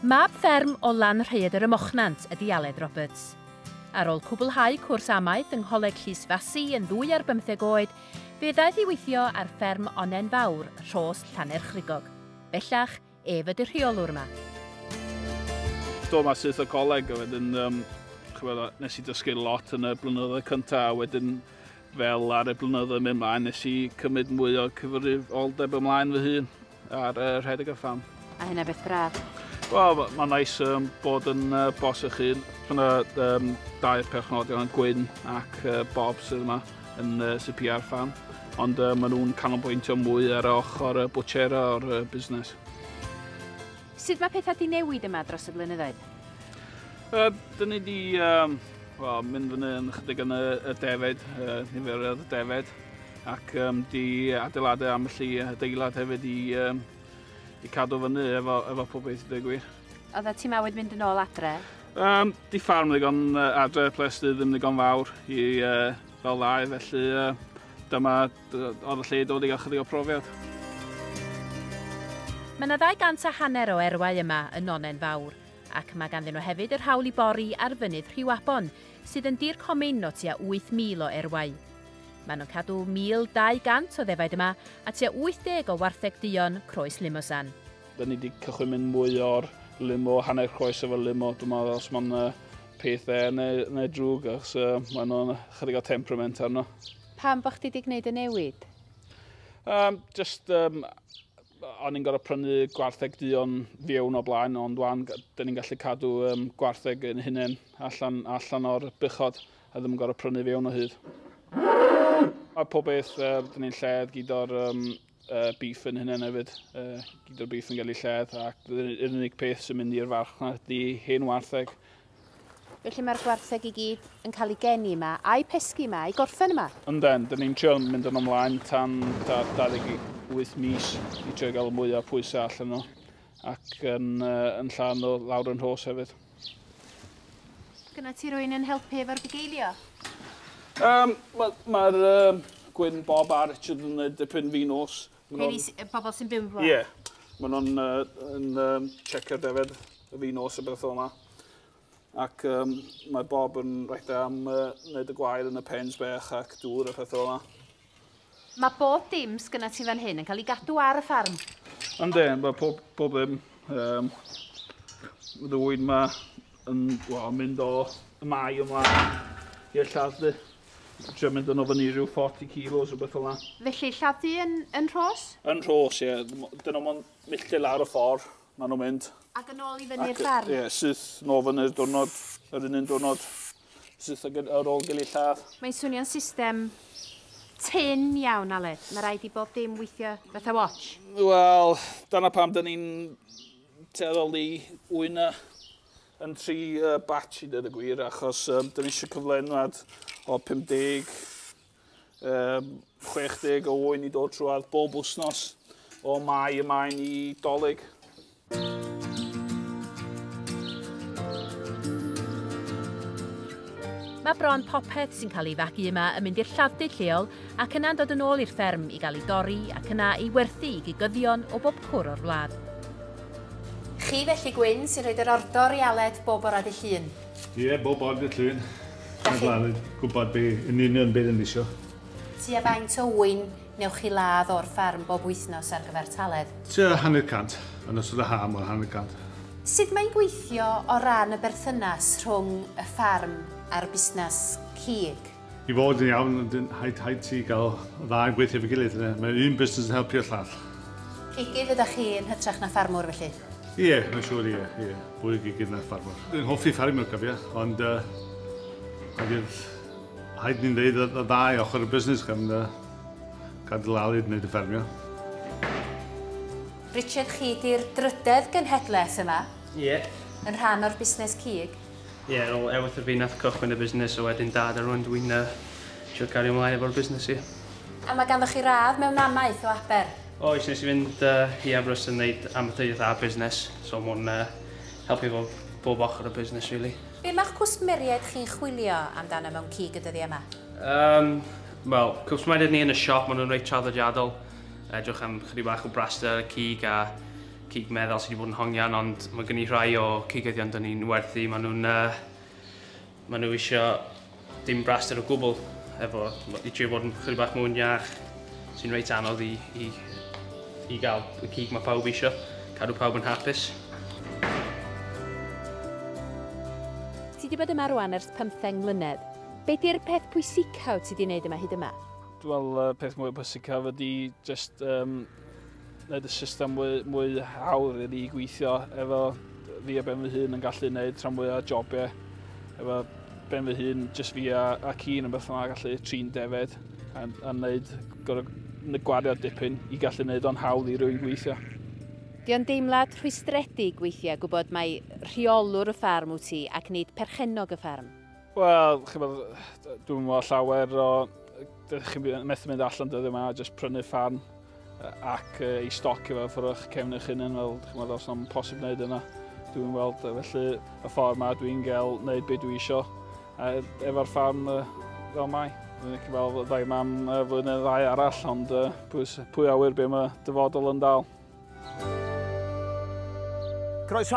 Mab fferm o Lanrhaeadr ym Mochnant ydy Aled Roberts. Ar ôl cwblhau cwrs amaeth yng Ngholeg Llys Fasi yn ddwy ar bymtheg oed, fe ddaeth i weithio ar fferm Onnen Fawr, Rhos, Llanerchrugog. Bellach, Ef ydy'r rheolwr yma. Do, mae syth y coleg, a wedyn, um, chybod, nes i dysgu lot yn y blynyddoedd cyntaf, a wedyn fel ar y blynyddoedd mynd ymlaen, nes i cymryd mwy o cyfrifoldeb ymlaen fy hun ar uh, rhedeg y ffam. A hynna beth braf? Wel, mae'n ma nais um, bod yn uh, bos eich hun. Mae yna um, dau perchnodion yn Gwyn ac uh, Bob sydd yma. yn CPR Farm, ond uh, maen nhw'n canolbwyntio mwy ar ochr y bwchera o'r uh, busnes. Sut mae pethau di newid yma dros y blynyddoedd? Uh, Dyna ni di um, well, mynd fyny yn chydig yn y, y defed, uh, nifer y defed, ac um, di adeiladau am y adeilad hefyd i, um, i cadw fyny efo, efo pob beth i ddweud gwir. Oedd y timawyd mynd yn ôl adre? Um, di ffarm ddigon uh, adre, ples di ddim ddigon fawr i uh, fel ddau, felly uh, dyma oedd y lle i dod i gael chydig o profiad. Mae yna 200 a hanner o erwau yma yn Nonen Fawr, ac mae ganddyn nhw hefyd yr hawl i bori ar fynydd Rhiwabon, sydd yn dir comin o tua 8,000 o erwau. Maen nhw'n cadw 1,200 o ddefaid yma a tua 80 o wartheg duon croes limosan. Da ni wedi cychwyn mynd mwy o'r limo, hanner croes efo limo. Dwi'n meddwl os mae'n uh, peth e neu, neu drwg, achos uh, mae'n nhw'n chydig o temperament arno. Pam bod chdi wedi gwneud y newid? Um, just, um, o'n i'n gorau prynu gwartheg duon fiewn o blaen, ond wan, da ni'n gallu cadw um, gwartheg yn hunain allan, allan o'r bychod, a ddim yn gorau prynu fiewn o hyd. Mae pob beth, uh, da ni'n lled gyd o'r um, y beef yn hynny hefyd. Uh, gyd o'r beef yn cael ei lledd ac yr unig peth sy'n mynd i'r farchnad ydy hen wartheg. Felly mae'r gwartheg i gyd yn cael ei geni yma, a'i pesgi yma, a'i gorffen yma. Yndan, dyn ni'n trio mynd yn ymlaen tan 28 mis i trio gael mwy o pwysau allan nhw ac yn, uh, yn llawn o lawr yn hos hefyd. Gyna ti rwy'n yn helpu efo'r bugeilio? Um, Mae'r ma, um, Gwyn, Bob a Richard yn gwneud dipyn fi nos. Rheini y bobl sy'n byw fo? Ie. Yeah. Maen nhw'n uh, yn, um, checker defed y fi nos y beth o yma. Ac um, mae Bob yn rhaid am uh, wneud y gwair yn y pens bech ac dŵr a peth o yma. Mae bob dim sgynna ti fan hyn yn cael ei gadw ar y ffarm. Ynddi, mae pob, pob ddim. Um, ddwyn ma yn well, mynd o y mae ymlaen i'r lladd di. Dwi'n mynd yn o fyny rhyw 40 kilos o beth fel yna. Felly lladd di yn, yn rhos? Yn rhos, ie. Yeah. Dyn nhw'n milltir lawr y ffordd. Maen nhw'n mynd. Ac yn ôl i fyny'r ffarm? Ie, syth nôl fyny'r diwrnod, yr un un diwrnod. Syth ar ôl gili lladd. Mae'n swnio'n system tynn iawn, Aled. Mae rhaid i bob dim weithio fatha watch. Wel, dyna pam dyn ni'n teddol i ŵyn yn tri batch i dweud y gwir, achos dyn ni eisiau cyflenwad o 50 60 o ŵyn i dod trwad bob wythnos o mai y maen i dolyg. Mae bron popeth sy'n cael ei fagu yma yn mynd i'r lladd-dy lleol ac yna'n dod yn ôl i'r fferm i gael ei dorri ac yna ei werthu i gigyddion o bob cwr o'r wlad. Chi felly Gwyn sy'n rhoid yr ordor i Aled bob bora ddydd Llun. Ie, yeah, bob bod y llun. Mae'n glân gwybod be, yn union beth yn eisiau. Ti a faint o wyn newch chi ladd o'r ffarm bob wythnos ar gyfer taledd? Ti a hanner cant, yn ystod y ha mor hanner cant. Sut mae'n gweithio o ran y berthynas rhwng y ffarm a'r busnes cig? I fod yn iawn, haid, haid ti gael y dda yn gweithio efo'i gilydd. Mae un busnes yn helpu'r llall. Cigydd ydach chi yn hytrach na ffarmwr felly? Ie, yeah, mae'n siŵr ie, yeah, ie. Yeah. Fwy o gigydd na ffarmwr. Dwi'n hoffi ffarmwr cofia, ond uh, haid ni'n dweud y ddau ochr y busnes gan uh, gadw lalid wneud y ffermio. Richard, chi di'r drydedd gynhedlaeth yma. Ie. Yeah. Yn rhan o'r busnes cig. Ie, ar ôl Ewythr fi nath cychwyn y busnes a wedyn Dad a rŵan dw i'n trio cario ymlaen efo'r busnes ie. A mae ganddoch chi radd mewn namaeth o Aber? Oes, nes i fynd i Aberystwyth yn neud amaethyddiaeth a busnes, so ma' hwn helpu efo bob ochr o busnes rili. Be ma'ch cwsmeriaid chi'n chwilio amdano mewn cig y dyddia yma? Yym, wel, cwsmeriaid ni yn y siop, ma' nhw'n reit traddodiadol, edrych am chydig bach o braster a cig a Cig meddal sydd wedi bod yn hongian ond mae gen i rhai o cigyddion dyn ni'n werthu, maen nhw'n... Uh, maen nhw eisiau dim braster o gwbl efo i trio bod yn chydig bach mwy iach sy'n reit anodd i, i, i gael y cig mae pawb eisiau, cadw pawb yn hapus. Ti wedi bod yma rwan ers pymtheng mlynedd. Be di'r peth pwysicaf ti wedi wneud yma hyd yma? Wel, y peth mwy pwysicaf ydy just um, wneud y system mwy, mwy hawdd i ni gweithio efo fi a ben fy hun yn gallu wneud rhan mwy o jobiau efo ben fy hun, jyst fi a, a cyn yn beth yma gallu trin defed a, a wneud gorau gwario dipyn i gallu wneud o'n hawdd i rwy'n gweithio. Di o'n deimlad rhwystredig weithiau gwybod mai rheolwr y ffarm wyt ti ac nid perchennog y ffarm? Wel, chi'n bod, dwi'n meddwl llawer o... Dych chi'n methu mynd allan dyddiau yma, jyst prynu fan ac uh, i stoc efo ffwrdd o'ch cefn eich hunain, fel chi'n meddwl, os yna'n posib wneud yna. Dwi'n weld, felly, y ffordd yma dwi'n gael wneud beth dwi isio efo'r fan uh, fel mai. Dwi'n eich fel ddau mam uh, flwyddyn ddau arall, ond uh, pwy, pwy awyr beth mae dyfodol yn dal. Croeso